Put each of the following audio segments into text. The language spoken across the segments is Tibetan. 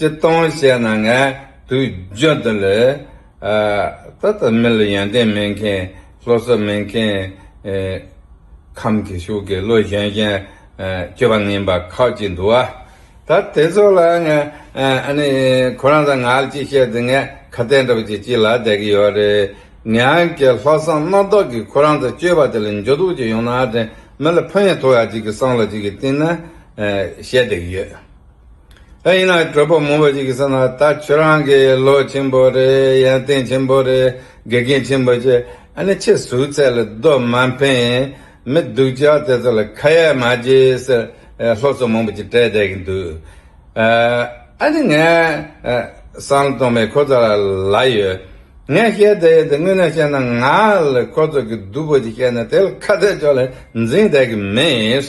ཅི་སྟོང་བཤད་ན་ངས་དུས་བརྗོད་འདི་ལས། ད་ལྟ་མི་ལ་ཡོན་ཏན་མེད་མཁན་བློ་གསལ་མེད་མཁན། ཁམས་ཀྱི་ཤུགས་ཀྱིས་བློ་གཞན་གཞན་སྐྱོ་བ་ངན་པ་ཁག་ཅིག་འདུག་ཨ། ད་དེ་ཚོ་ལ་ངས་ཨ་ནི་ཁོ་རང་དང་ང་ལ་ཅི་བཤད་དེ་ངས་ཁ་གཏད་འདྲ་པོ་ཅིག་ཅི་ལ་བསྡད་ཀྱི་ཡོད་རེད། ངའང་ཀྱི་ལྷག་བསམ་རྣམ་དག་གིས་ཁོ་རང་དང་སྐྱོ་བ་དེ་ལ་འགྱོད་གཏུགས་ཅིག་ཡོང་ན་དེ་མི་ལ་ཕན་ཡང་ཐོགས་ཡ་ཅིག་གི་སྲང་ལ་ཅིག་གི་སྟེང་ན་བཤད་བསྡད་ཀྱི་ཡོད། ད་ཡིན་ན་གྲོད་པོ་མང་བོ་ཞིག་གིས་བསམ་ན་ད་ཁྱོད་རང་གིས་བློ་ཆེན་པོ་རེད་ཡང་བསྟན་ཆེན་པོ་རེད་དགེ་རྒན་ཆེན་པོ་ཆེ་ཨ་ནི་ཁྱེད་ཟུག་ཚད་ལ་རྡོ་མ་འཕེན་ཡིན་མི་སྡུག་ཅག་དེ་ཚོ་ལ་ཁ་ཡ་མ་བྱེད་ཟེར་སློབ་གསོ་མང་བོ་ཅིག་སྤྲད་བསྡད་ཀྱི་འདུག་ཨ་ནི་ངས་བསམ་བློ་གཏོང་མི་ཁོ་ཚོ་ལ་ལ་ཡོད་ངས་བཤད་བསྡད་ཡོད་དེ་དངོས་གནས་བཤད་ན་ང་ལ་ཁོ་ཚོ་གིས་སྡུག་པོ་ཅིག་བཤད་ནས་དེ་ལ་ཁ་གཏད་ཅོག་ལ་འཛིང་བསྡད་ཀྱི་མེད།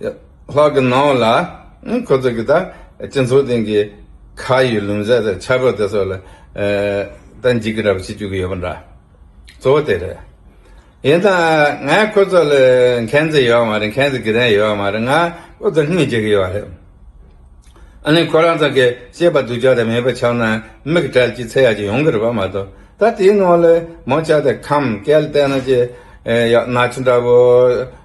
ལྷག་གི་ནང་ལ་ཁོ་ཚོ་གིས་ད་སྤྱི་ཚོགས་སྟེང་གི་ཁ་ཡི་ལུང་བསྲེ་དང་ཆག་སྒོ་དེ་སོགས་ལ་ད་འཇིགས་སྐྲག་བྱེད་བཅུག་གི་ཡོད་པ་འདྲ། གཙོ་བོ་དེ་རེད། ཡིན་ད་ང་ཁོ་ཚོ་ལ་མཁྱེན་རྩི་ཡོད་མ་རེད་མཁྱེན་རྩི་གི་རན་ཡོད་མ་རེད་ང་ཁོ་ཚོ་སྙིང་རྗེ་གི་ཡོད་རེད། ཨ་ནི་ཁོ་རང་ཚང་གི་ཤེས་པ་སྡུག་ཅག་དེ་མེད་པ་ཆགས་ན་མིག་དྲལ་གྱི་ཚེ་ཡག་ཅིག་ཡོང་གི་རེད་པ་མ་གཏོགས་ད་དེའི་ནང་ལ་མོ་ཆགས་ཏེ་ཁམས་སྐལ་ལྟས་ན་ཅི་ཡག་ན་ཆུང་འདྲ་བོ།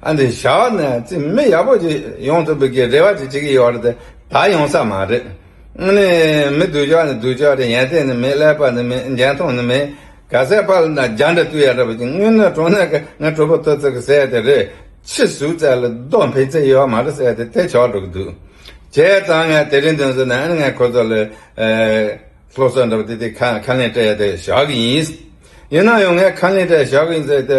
ཨ་འདི་ཞའོ་ནེ་ཙི་མི་ཡག་པོ་ཞིག་ཡོང་ཐུབ་པའི་རེ་བ་ཅིག་བྱེད་ཀྱི་ཡོད་རེད་ད་ད་ཡོང་ས་མ་རེད། དངོས་གནས་མི་དུ་ཅག་ནི་དུ་ཅག་རེད་ཡན་ཏན་ནི་མེད་ཀླད་པ་ནི་མེད་འགྱན་མཐོང་ནི་མེད། ག་ཟེ་པ་ལ་ན་རྒྱ་འདྲ་དུས་ཡག་རེད་པ་ཅིག་དངོས་གནས་གྲོང་ནས་ཀ་ང་གྲོ་པོ་ཐོ་ཚིག་གི་ཟས་དེ་རེད་ཕྱི་ཟུར་ཙལ་ལ་རྡོ་འཕེལ་ཚེ་ཡོད་མ་རེད་ཟས་དེ་དེ་ཆགས་འགྲོ་གི་འདུག་བྱས་ཙང་ང་དེ་རིང་དོན་ཟོ་ནས་ཨ་ནི་ང་ཁོ་ཚོ་ལ་སློབ་གསོ་འདྲ་པོ་དེ་དེ་ཁ་ལེན་སྤྲད་དེ་བཞག་གི་ཡིན། ཡིན་ན་ཡང་ངས་ཁ་ལེན་སྤྲད་བཞག་གི་ཡིན་ཟེར་ཏེ།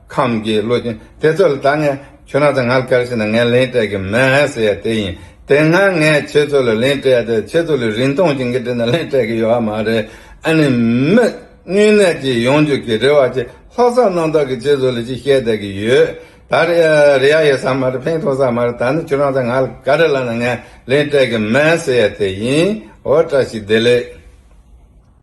ཁམས་ཀྱི་བློ་ཅན་དེ་ཚོ་ལ་ད་ངས་ཁྱོད་རང་དང་ང་ལ་ག་རེ་བྱེད་ན་ངས་ལན་སྤྲད་གི་མེད་ཟེར་ཡ་དེ་ཡིན་དེ་སྔ་ངས་ཁྱེད་ཚོ་ལ་ལན་སྤྲད་དེ་ཁྱེད་ཚོ་ལ་རིན་ཐང་ཅན་གྱི་འབྲི་ན་ལན་སྤྲད་གི་ཡོད་མ་རེད་ཨ་ནི་མི་སྙུན་ནད་ཀྱི་ཡོང་རྒྱུ་གི་རེ་བ་ཅིག་ལྷག་བསམ་རྣམ་དག་གི་ཁྱེད་ཚོ་ལ་ཅིག་བཤད་བསྡད་གི་ཡོད་ད་རེད་ཡ་ཡོད་ས་མ་རེད་ཕན་ཐོག་ས་མ་རེད་ད་ནི་ཁྱོད་རང་དང་ང་ལ་ག་རེ་ལབ་ན་ངས་ལན་སྤྲད་གི་མེད་ཟེར་ཡ་དེ་ཡིན་འོ་བཀྲ་ཤིས་བདེ་ལེགས།